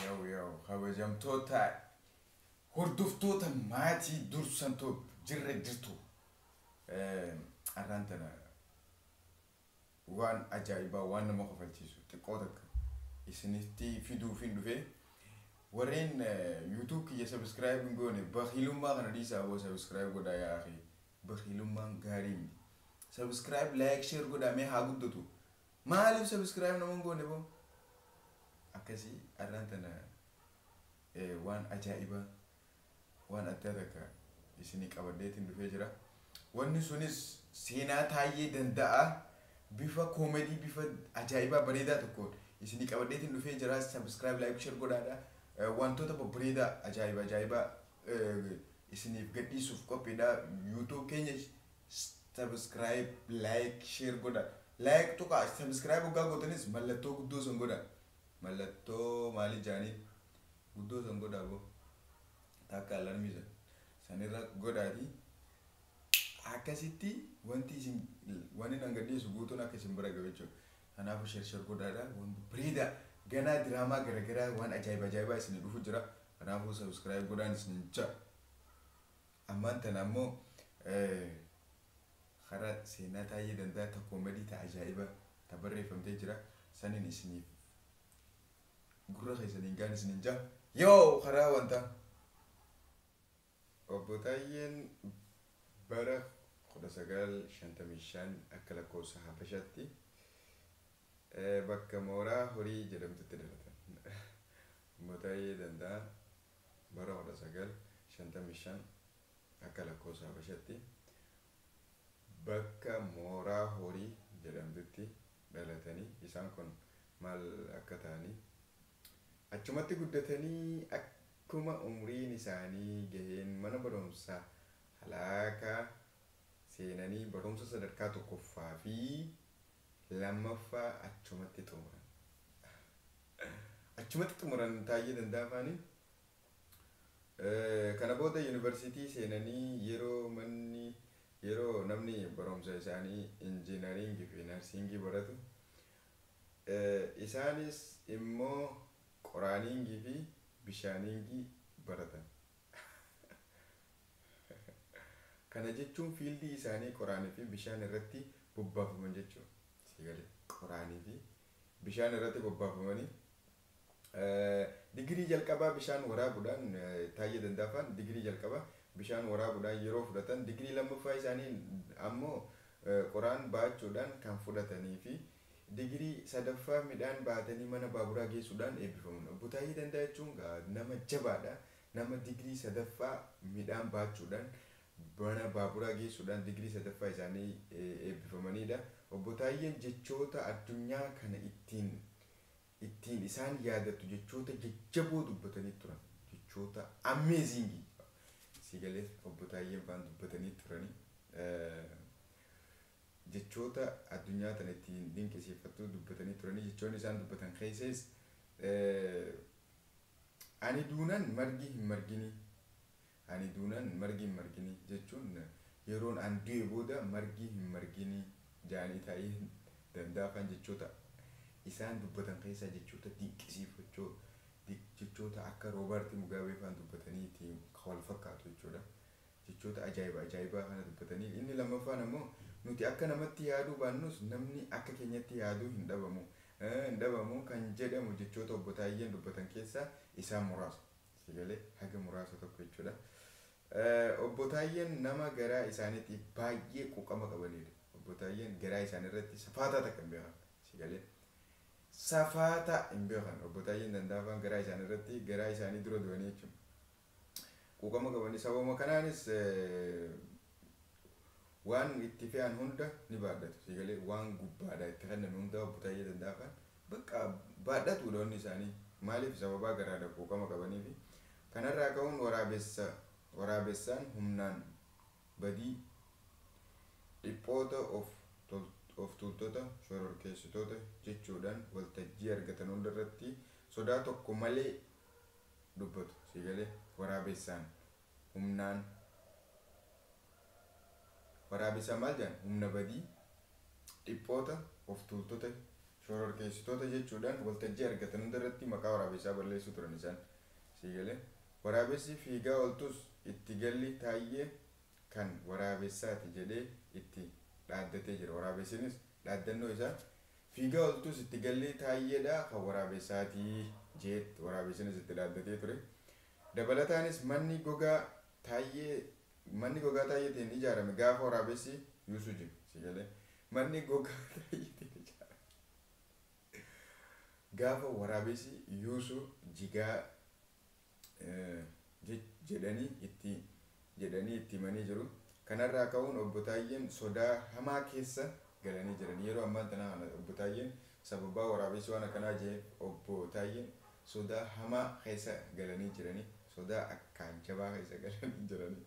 Yow yow kabajamtoota hordoftoota maatii dursan too jirra jirtu arraan tana waan ajaa'ibaa waan nama kofalchiisu xiqqoo takka isinitti fiduufiin dhufe warreen yuutuub kiyya sabiskiraayib hin goone bakiilummaa kana dhiisaa boo sabiskiraayib godhaa yaa akhi bakiilummaan gaarii miti sabiskiraayib laayik sheer godhaa mee haa guddatu Maalif subscribe nama hin goone boo. Akkasii arraan tana waan ajaa'ibaa waan addaa takka isinii qabadheetiin dhufee jira. Wanni sunis seenaa Taayyee Danda'aa bifa comedy bifa ajaa'ibaa bareedaa tokkoon isinii qabadheetiin dhufee jira. Subscribe like share godhaadha. Wantoota babbareedaa ajaa'iba ajaa'ibaa isiniif gadhiisuuf qophiidha. YouTube keenya Subscribe like share godha like tuqa subscribe hoggaa gootanis mallattoo guddoo san godha mallattoo maali jaaniin guddoo san godha boo takka alarmii san sanirra godhaati akkasitti wanti isin wanni nan gadhiisu guutuun akka isin bira gahu jechuudha kanaafu share share godhaadha waan bareeda ganaa diraamaa garagaraa waan ajaa'iba ajaa'ibaa isin dhufu jira kanaafuu subscribe godhaan isin ja'a Ammaan tana ammoo kara seenaa Taayyee Danda'a ta comedy ta ajaa'ibaa ta barreeffamtee jira saniin isiniif gurra keessaniin gahan isiniin jaha. Yoo karaa wanta Obbo Taayyeen bara 1955 akka lakkoofsa Habashaatti bakka Mooraa Horii jedhamtutti dhalatan. Obbo Taayyee Danda'aan Bara 1955 akka lakkoofsa habashatti bakka mooraa horii jedhamtutti dhalatanii isaan kun maal akka ta'anii achumatti guddatanii akkuma umriin isaanii gaheen mana barumsa halaakaa seenanii barumsa sadarkaa tokkoffaa fi 2ffaa achumatti xumuran. Achumatti xumuran Taayyee Dandaafaani. Kana booda Yuunivarsiitii seenanii yeroo manni yeroo namni barumsa isaanii Injiinariingi fi Narsiingii baratu isaanis immoo Qoraaniingii fi Bishaaniingii baratan. Kana jechuun fiildii isaanii qoraanii fi bishaan irratti bobbaafaman jechuu dha. Sii galee? Qoraanii fi bishaan irratti bobbaafamanii digirii jalqabaa bishaan waraabuudhaan Taayyee Dandaafaan digirii jalqabaa bishaan waraabuudhaan yeroo fudhatan digirii lammaffaa isaanii ammoo qoraan baachuudhaan kan fudhatanii fi digirii sadaffaa midhaan baatanii mana baaburaa geessuudhaan eebbifaman. Obbo Taayyee Dandaa jechuun gaa nama jabaadha. Nama digrii sadaffaa midhaan baachuudhaan mana baaburaa geessuudhaan digrii sadaffaa isaanii eebbifamaniidha. Obbo Taayyeen jechoota addunyaa kana ittiin ittiin isaan yaadattu jechoota jajjaboo dubbatanii turan. Jechoota amazing sii galee Obbo Taayyeen faan dubbatanii turanii. Jechoota addunyaa tana ittiin dinqisiifattu dubbatanii turanii. Jechoonni isaan dubbatan keessaas Ani duunan margi hin marginii Ani duunan margi hin marginii jechuun yeroon an du'e booda margi hin marginii jaanii taa'ee danda'a faan jechoota isaan dubbatan keessaa jechoota dinqisiifachoo jechoota akka Roobaarti Mugaabee faan dubbatanii tiin kan wal fakkaatu jechuudha. Jechoota ajaa'iba ajaa'ibaa kana dubbatanii. Inni lammaffaan ammoo nuti akka namatti yaaduu baannus namni akka keenyatti yaadu hin dhabamu, hin dhabamu kan jedhamu jechoota Obbo Taayyeen dubbatan keessaa isaan muraasa. Sii galee? Haga muraasa tokko jechuudha. Obbo Taayyeen nama garaa isaaniitiif baay'ee quuqama qabaniidha. Obbo Taayyeen garaa isaanii irratti safaataa takka hin beekan. Sii galee? Safaataa hin beekan. Obbo Taayyeen Dandaafaan garaa isaanii irratti garaa isaanii dura du'anii jechuudha. Quuqama qabanii sababuma kanaanis waan itti fe'an hunda ni baadhatu. Sii galee waan gubbaadhaa itti kenname hundaa obbo Taayyee Dandaafaan bakka baadhatuudha wanni isaanii. Maaliif sababaa garaadha quuqama qabaniifi. Kanarraa ka'uun waraabessa waraabessaan humnaan badii dhiphoota of of tuultota shororkeessitoota jechuudhaan waltajjii argatan hundarratti sodaa tokko malee dubbatu sii galee waraabessaan humnaan waraabessaan maal jedhan humna badii dhiphoota of tuultota shororkeessitoota jechuudhaan waltajjii argatan hunda irratti maqaa waraabessaa balleessuu turan isaan sii galee waraabessi fiigaa oltus itti galli taayyee kan waraabessaati jedhee itti dhaaddatee jira waraabessinis dhaaddannoo isaa Fiigaa oltuus itti gallee Taayyedha kan waraabessaati jeett waraabessinis itti dhaaddatee ture. Dabalataanis manni gogaa Taayyee manni gogaa Taayyeetiin ijaarame gaafa waraabessi yuusu jim. Si galee? Manni gogaa Taayyeetiin ijaarame gaafa waraabessi yuusu jigaa. jedhanii itti jedhanii itti himanii jiru. Kanarraa ka'uun Obbo Taayyeen sodaa hamaa keessa galanii jiran. Yeroo ammaan tanaa kana Obbo Taayyeen sababaa waraabeessi waan akkanaa je'eef Obbo Taayyeen sodaa hamaa keessa galanii jiranii. Sodaa akkaan jabaa keessa galanii jiranii.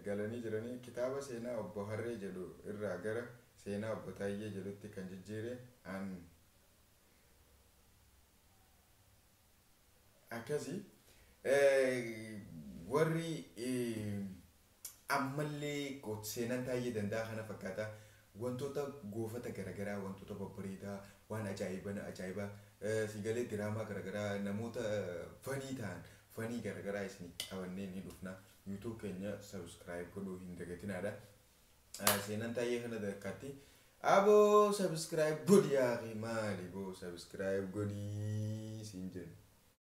galanii jiranii. Kitaaba seenaa Obbo Harree jedhu irraa gara seenaa Obbo Taayyee jedhutti kan jijjiire an. Akkasi warri ammallee seenaan Taayyee Danda'aa kana fakkaata wantoota goofata garagaraa wantoota babbareedaa waan ajaa'ibana ajaa'iba siigalee diraamaa garagaraa namoota fanii ta'an fanii garagaraa isin qabannee ni dhufna YouTube keenya subscribe godhuu hin dagatinaadha. Ah, seenaan taayee kana takkaatti aboo subscribe godhi yaa akhi maali boo subscribe godhi siin jenna